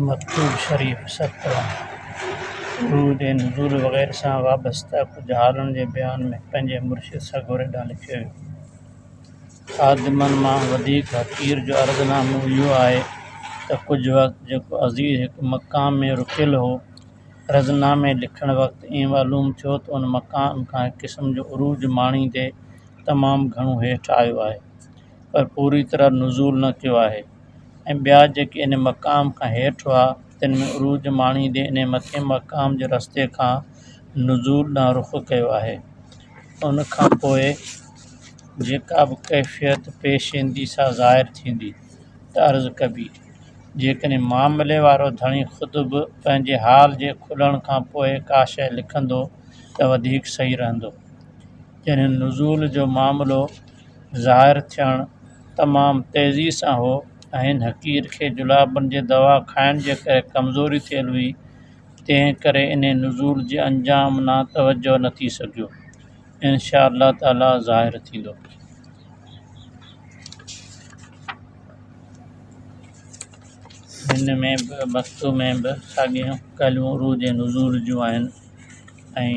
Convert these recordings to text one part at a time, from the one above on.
مڪتوب شريف، سرڪلام، سرود ۽ نزول وغيره سان وابسته ڪجهه حالن جي بيان ۾ پنهنجي مرشد سڳوري ڏانهن لکيو ويو. خادمن مان وڌيڪ حقير جو عرض نامو اهو آهي ته ڪجهه وقت جيڪو عزيز هڪ مقام ۾ رڪيل هو، عرض نامي لکڻ وقت ائين معلوم ٿيو ته ان مقام کان هڪ قسم جو عروج ماڻيندي تمام گهڻو هيٺ آيو آهي. پر پوري طرح نزول نه ٿيو آهي ۽ ٻيا جيڪي ان مقام کان هيٺ هئا تن ۾ عروج ماڻيندي ان مٿئين مقام جي رستي کان نزول ڏانهن رخ ڪيو آهي ان کان پوء جيڪا به ڪيفيت پيش ايندي سا ظاهر ٿيندي ته عرض ڪبي جيڪڏهن معاملي وارو ڌڻي خود به پنهنجي حال جي کلڻ کان پوء ڪا شيء لکندو ته وڌيڪ صحيح رهندو جنھن نزول جو معاملو ظاھر ٿيڻ تمام تيزي سان ھو ۽ ھن حقير کي جلابن جي دوا کائڻ جي ڪري ڪمزوري ٿيل ھئي تنھن ڪري انھي نزول جي انجام نا توجھه نه ٿي سگھيو انشاء الله تعالي ظاھر ٿيندو. ھن ۾ به مستوء ۾ به ساڳيون ڳالھيون عروج ۽ نزول جون آھن ۽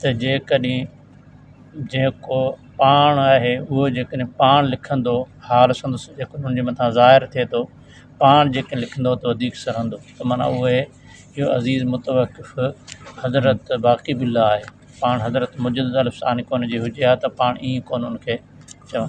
ته جيڪڏهن جيڪو پاڻ آهي اهو جيڪڏهن پاڻ لکندو حال سندس جيڪو ان جي مٿان ظاهر ٿئي ٿو پاڻ جيڪڏهن لکندو ته وڌيڪ سهندو ته معنيٰ اهو آهي جو عزيز متوقف حضرت باقي به الله آهي پاڻ حضرت مجدد الف ثاني ڪون جي هجي ها ته پاڻ ائين ڪون ان کي چون